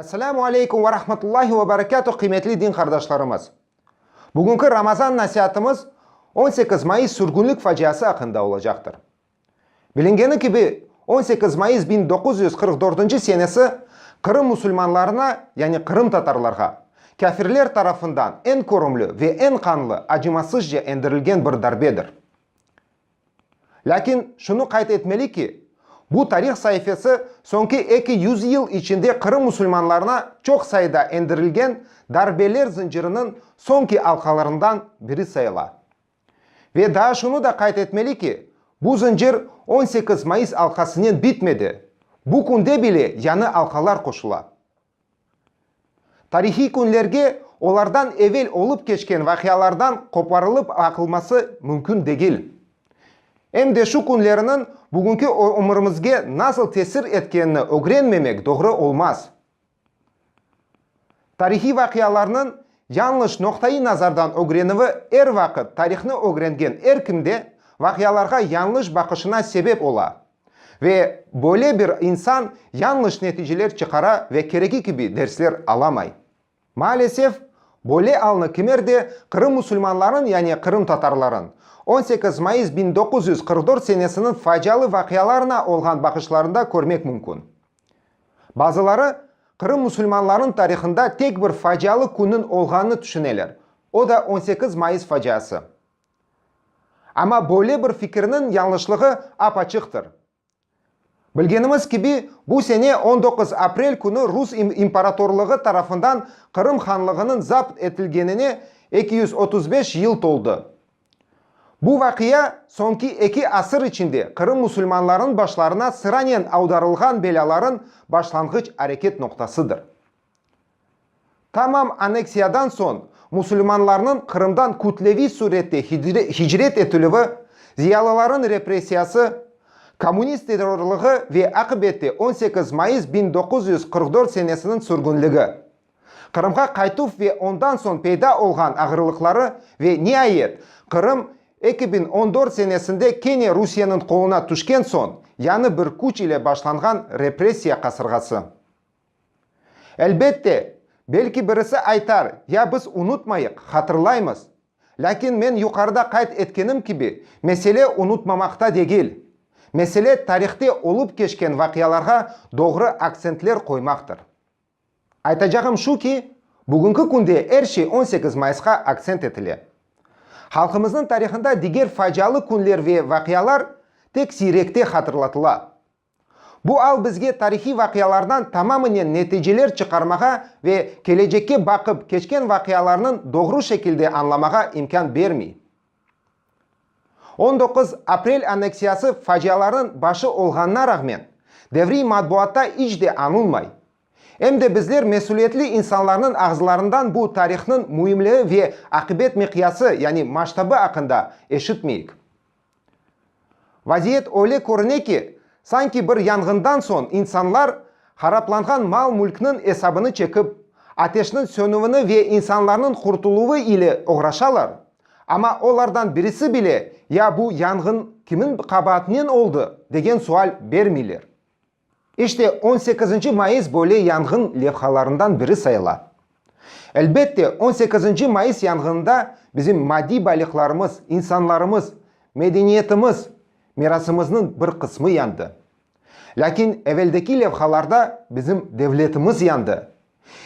Esselamu aleykum ve rahmetullahi ve berekâtuh, qıymetli din qardaşlarımız! Bugünki Ramazan nasiatımız on sekiz mayıs sürgünlik faciası aqqında olacaqtır. Bilingeni kibi, on sekiz mayıs biñ doquz yüz qırq dörtünci senesi Qırım musulmanlarına, yani qırımtatarlarğa, kâfirler tarafından eñ körümli ve eñ qanlı, acımasızca endirilgen bir darbedir. Lâkin şunı qayd etmeli ki, bu tarih saifesi soñki eki yüz yıl içinde Qırım musulmanlarına çoq sayıda endirilgen darbeler zıncırınıñ soñki alqalarından biri sayıla. Ve daa şunı da qayd etmeli ki, bu zıncır on sekiz mayıs alqasınen bitmedi, bu künde bile yañı alqalar qoşula. Tarihiy künlerge olardan evel olıp keçken vaqialardan qoparılıp baqılması mümkün degil. Em de şu künleriniñ bugünki ömürimizge nasıl tesir etkenini ögrenmemek doğru olmaz. Tarihiy vaqialarnıñ yañlış noqta-i nazardan ögrenüvi er vaqıt tarihni ögrengen er kimde vaqialarğa yañlış baqışına sebep ola. Ve böyle bir insan yañlış neticeler çıqara ve keregi kibi dersler alamay. Maalesef, böyle alnı kimer de Qırım musulmanlarınıñ yani qırımtatarlarınıñ on sekiz mayıs biñ doquz yüz qırq dört senesiniñ facialı vaqialarına olğan baqışlarında körmek mümkün. Bazıları Qırım musulmanlarınıñ tarihında tek bir facialı künniñ olğanını tüşüneler, o da on sekiz mayıs faciası. Amma böyle bir fikirniñ yañlışlığı ap-açıqtır. Bilgenimiz kibi, bu sene on doquz aprel künü Rus imparatorlığı tarafından Qırım hanlığınıñ zapt etilgenine eki yüz otuz beş yıl toldı. Bu vaqia, soñki eki asır içinde Qırım musulmanlarınıñ başlarına sıranen avdarılğan belâlarınıñ başlanğıç areket noqtasıdır. Tamam anneksiyadan soñ musulmanlarnıñ Qırımdan kütleviy sürette hicret etilüvi, ziyalılarınıñ repressiyası, kommunist terrorlığı ve aqibette on sekiz mayıs biñ doquz yüz qırq dört senesiniñ sürgünligi, Qırımğa qaytuv ve ondan soñ peyda olğan ağırlıqları ve, niayet, Qırım eki biñ on dört senesinde kene Rusiyeniñ qoluna tüşken soñ yañı bir küç ile başlanğan repressiya qasırğası. Elbette, belki birisi aytar, ya biz unutmayıq, hatırlaymız. Lâkin men yuqarıda qayd etkenim kibi, mesele unutmamaqta degil. Mesele tarihte olıp keçken vaqialarğa doğru aktsentler qoymaqtır. Aytacağım şu ki, bugünki künde er şey on sekiz mayısqa aktsent etile. Halqımıznıñ tarihında diger facialı künler ve vaqialar tek siyrekte hatırlatıla. Bu al bizge tarihiy vaqialardan tamamınen neticeler çıqarmağa ve kelecekke baqıp keçken vaqialarnıñ doğru şekilde añlamağa imkân bermey. On doquz aprel anneksiyası facialarnıñ başı olğanına rağmen, devriy matbuatta iç de añılmay. Em de bizler mesülietli insanlarnıñ ağızlarından bu tarihnıñ müimligi ve aqibet miqyası, yani masştabı aqqında eşitmeyik. Vaziyet öyle körüne ki, sanki bir yanğından soñ insanlar haraplanğan mal-mülkniñ esabını çekip, ateşniñ sönüvini ve insanlarnıñ qurtuluvı ile oğraşalar, amma olardan birisi bile ya bu yanğın kimin qabaatinen oldı, degen sual bermeyler. İşte, on sekizinci mayıs böyle yanğın levhalarından biri sayıla. Elbette, on sekizinci mayıs yanğınında bizim maddiy baylıqlarımız, insanlarımız, medeniyetimiz, mirasımıznıñ bir qısmı yandı. Lâkin eveldeki levhalarda bizim devletimiz yandı,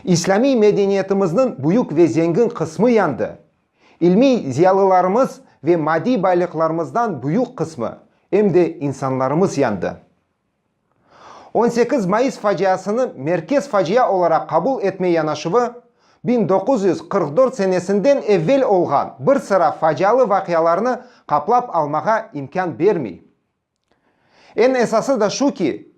islâmiy medeniyetimizniñ büyük ve zengin qısmı yandı, ilmiy ziyalılarımız ve maddiy baylıqlarımızdan büyük qısmı, em de insanlarımız yandı. On sekiz mayıs faciasını merkez facia olaraq qabul etme yanaşuvı biñ doquz yüz qırq dört senesinden evvel olğan bir sıra facialı vaqialarnı qaplap almağa imkân bermey. Eñ esası da şu ki,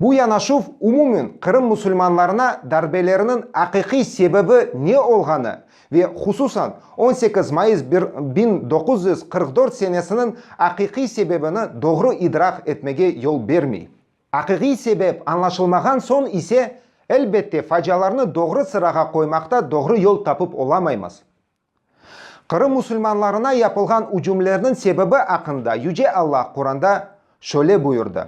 bu yanaşuv umumen Qırım musulmanlarına darbeleriniñ aqiqiy sebebi ne olğanı ve hususan on sekiz mayıs bir biñ doquz yüz qırq dört senesiniñ aqiqiy sebebini doğru idraq etmege yol bermey. Aqiqiy sebep añlaşılmağan soñ ise, elbette, facialarnı doğru sırağa qoymaqta doğru yol tapıp olamaymız. Qırım musulmanlarına yapılğan ücümlerniñ sebebi aqqında Yüce Alla Quranda şöyle buyurdı.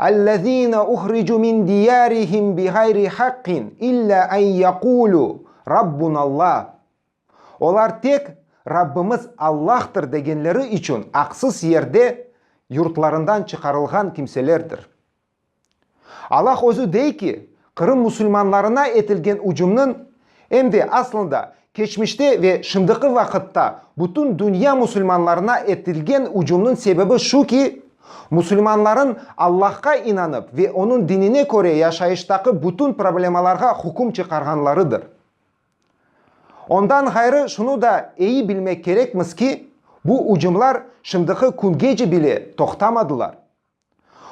Ellezine uhricu min diyarihim biğayri haqqin illa en yekulu, Rabbunallah. Olar tek Rabbimiz Allahtır degenleri içün aqsız yerde yurtlarından çıqarılğan kimselerdir. Allah Özü dey ki, Qırım musulmanlarına etilgen ücümniñ, em de, aslında, keçmişte ve şimdiki vaqıtta bütün dünya musulmanlarına etilgen ücümniñ sebebi şu ki, musulmanlarnıñ Allahqa inanıp ve Onıñ dinine köre yaşayıştaki bütün problemalarğa hüküm çıqarğanlarıdır. Ondan ğayrı şunı da eyi bilmek kerekmiz ki, bu ücümlar şimdiki küngece bile toqtamadılar.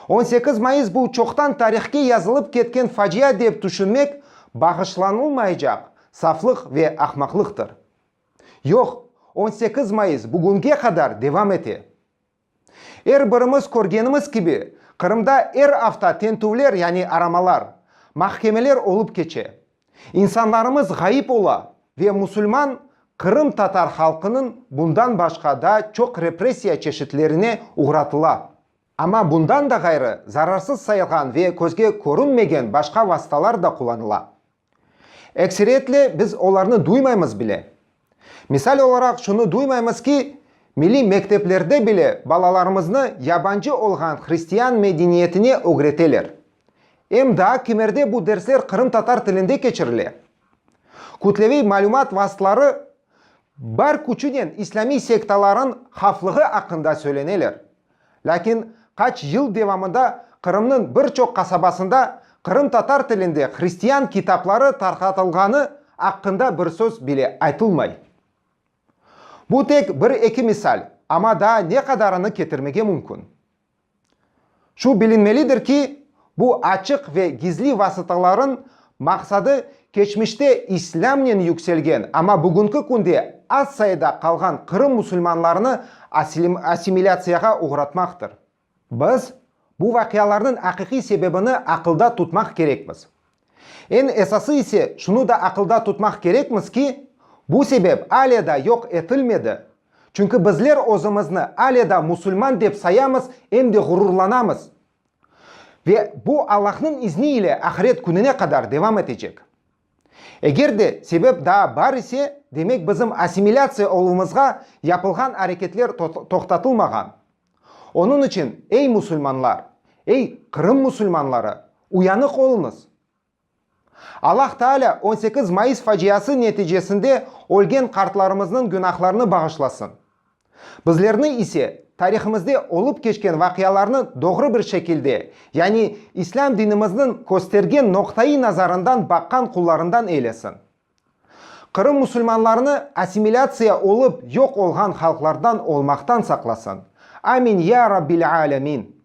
On sekiz mayıs bu çoqtan tarihke yazılıp ketken facia dep tüşünmek bağışlanılmaycaq saflıq ve ahmaqlıqtır. Yoq, on sekiz mayıs bugünge qadar devam ete. Er birimiz körgenimiz kibi, Qırımda er afta tentüvler, yani aramalar, mahkemeler olıp keçe. İnsanlarımız ğayıp ola ve musulman qırımtatar halqınıñ bundan başqa da çoq repressiya çeşitlerine uğratıla. Amma bundan da ğayrı zararsız sayılğan ve közge körünmegen başqa vasıtalar da qullanıla. Ekseriyetle biz olarnı duymaymız bile. Misal olaraq, şunı duymaymız ki, milliy mekteplerde bile balalarımıznı yabancı olğan hristiyan medeniyetine ögreteler. Em daa kimerde bu dersler qırımtatar tilinde keçirile. Kütleviy malümat vastları bar küçünen islamiy sektaların havflığı aqqında söyleneler. Lâkin qaç yıl devamında Qırımnıñ bir çoq qasabasında qırımtatar tilinde hristian kitapları tarqatılğanı aqqında bir söz bile aytılmay. Bu tek bir-eki misal, amma daa ne qadarını ketirmege mümkün. Şu bilinmelidir ki, Bu açıq ve gizli vasıtalarnıñ maqsadı keçmişte islâmnen yükselgen, amma bugünki künde az sayıda qalğan Qırım musulmanlarını assimilâtsiyağa oğratmaqtır. Biz bu vaqialarnıñ aqiqiy sebebini aqılda tutmaq kerekmiz. Eñ esası ise şunı da aqılda tutmaq kerekmiz ki, bu sebep ale da yoq etilmedi, çünki bizler özümizni ale da musulman dep sayamız em de ğururlanamız. Ve bu Allahnıñ izni ile ahiret kününe qadar devam etecek. Eger de sebep daa bar ise, demek bizim assimilâtsiya oluvımızğa yapılğan areketler toqtatılmağan. Onıñ içün, ey musulmanlar, ey Qırım musulmanları, uyanıq oluñız! Allah Taalâ on sekiz mayıs faciası neticesinde ölgen qartlarımıznıñ günahlarını bağışlasın. Bizlerni ise tarihimizde olıp keçken vaqialarnı doğru bir şekilde, yani İslâm dinimizniñ köstergen noqtayı nazarından baqqan qullarından eylesin. Qırım musulmanlarını assimilâtsiya olıp yoq olğan halqlardan olmaqtan saqlasın. Amin, ya Rabbil Âlemin!